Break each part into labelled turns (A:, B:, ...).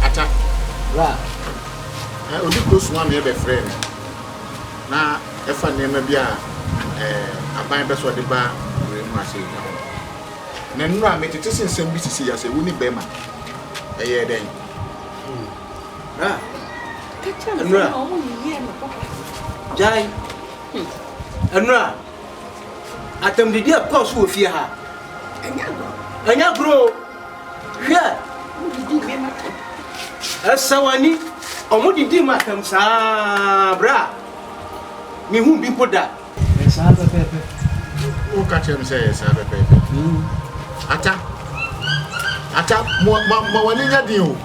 A: Ata bra
B: eh, odi kuro suma na ɛbɛfrɛ no na ɛfa nneɛma bi a eh, aban bɛ sɛ ɔde ba wura mu ase ka ho na nnura metete se nsɛm bi sisi ya sɛ wo ne bɛrima ɛyɛ dɛn bra
A: nnura gyae nnura Atamdidi a ɛkɔɔ so wɔ fie ha. Ɛnyɛ agorɔ o. Hwɛ. Ɛsɛ w'ani. Wɔn didi mu atɛm saa bra. Mihu bi mpo da. Ɛyɛ saa pɛpɛɛpɛ. Woka
B: kyerɛ me sɛ ɛyɛ saa pɛpɛɛpɛ. Hmm. Ata. Ata mo ma ma w'ani nya den o.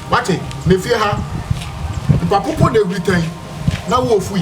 B: Wate na fie ha. Nkwapopo na ehuri tɛn na wo ofui.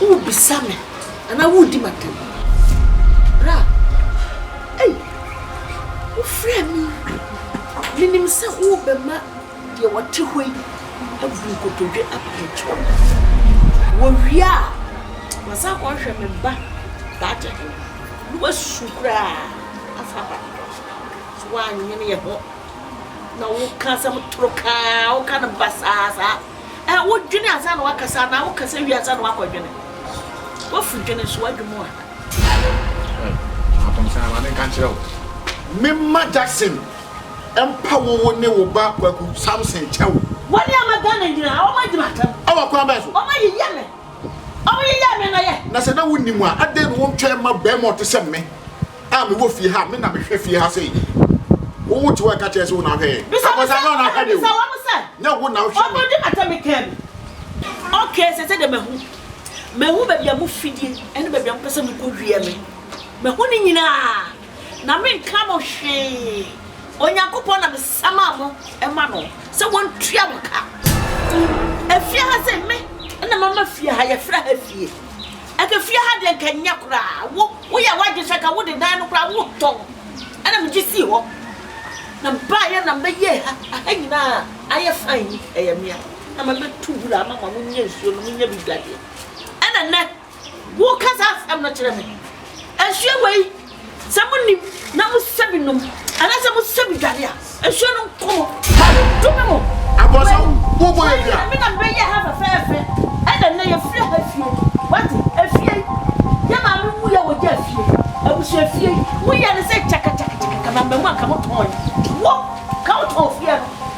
C: Worebisa me anaa woredi m'atɛm? Bra. Ei, wofrɛɛ me yi. Menim sɛ worebɛma deɛ ɔte hɔ yi abu nkotodwe aba me nkyɛn. Wɔwie a, wɔasan akɔhwehwɛ me ba daakye he na wɔasu koraa afa aba me hɔ. So woannwene yɛ ho na woka asɛm toro kaa a woka no basaa saa? Ɛ, wodwene ansa na woakasa anaa wokasa wie ansa na woakɔdwene? Woafu dwene nso woadwo mu a. Ɛ, Matom
B: saa, ma menka nkyerɛ wo. Memma Jackson mpa wo wo ne wo ba Kwaku Samson kyɛw. Wɔn a ma Ghana
C: nyinaa, wɔadi m'atɛm. Wɔ kwan bɛn so?
B: Wɔyeyɛ me.
C: Wɔyeyɛɛ me nnɔyɛ. Na sɛ na wunnim a, adɛn
B: na wontwɛn ma barima a ɔte sɛ me? a mewɔ fie ha me na mehwɛ fie ha sei wowo te hɔ ɛka kyerɛ sɛ wo na ahwɛ yɛn abɔsa no na ahwɛ de o nyɛ wo
C: na wohwɛ me ɔbɛdi
B: mata me kaa
C: bi ok sɛ sɛ deɛ mahu mahu baabi a mo fidie ɛne baabi a mopɛ sɛ mekɔ wie me mahu ne nyinaa na menka mo hwee onyankopɔn na mesama mo ɛma no sɛ wɔntua mo ka ɛfie ha sɛ me ɛna mama fie ha yɛfrɛ ha fie Ɛka fie ha deɛ nka nyɛ koraa wo woyɛ wadwen sɛ ka wode dan no koraa wotɔn ɛna megye sii hɔ na baayɛ na mɛyɛɛ ha aha nyinaa ayɛ fine yi ɛyɛ mea na mɛbɛtu wura ama ma monyɛ nsuo no monyɛ bi dwadeɛ ɛna nɛ woka saa asɛm no kyerɛ me nsuo wei Sɛ monim na mosɛ bi nom anaasɛ mosɛ bi dware a, nsuo no nkɔ mo. Dome mo. Wei,
B: wei na me na bɛyɛ ha
C: fɛfɛɛfɛ. Ɛna nnɛ yɛfiri ha fie. Wate, efie yi, yɛ maame wu yɛ wɔgya efie yi. Abusua efie yi, moyɛ no sɛ kyakakyakakyakaka na mmamu anka motɔn yi. Wo, ka wotɔn fie no.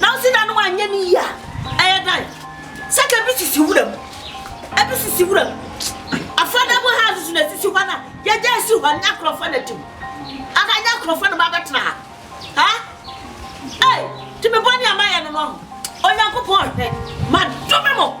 C: Nanso da no anyɛ no yie a, ɛyɛ dɛn? Sɛ ka ebi sisi wura mu, ebi sisi wura mu. Affordable houses na esisi hɔ no a, yɛgya esi hɔ no, nyɛ akorɔmfoɔ na ɛte mu. Anaa nyɛ akorɔmfoɔ na wɔabɛtena ha. Ha? Ei, tumi bɔne a mayɛ no no, Onyankopɔn hwɛ, madome mo.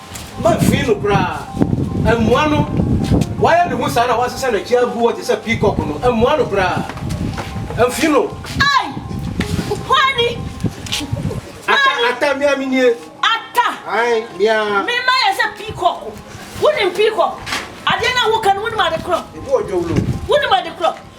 A: Mamfiri no koraa. Ammua no. Wayɛ ne ho saa na wasesa n'akyi agu hɔ te sɛ peacock no. Ammua no koraa. Amfiri no. Ai!
C: Kwani!
A: Atta, Atta, mea menie. Atta! Ai,
C: mea.
A: Me ma yɛ sɛ
C: peacock. Wonim peacock? Adeɛ no a woka no, wonim ade korɔ? Ebi wɔ dwawulo.
A: Wonim ade korɔ?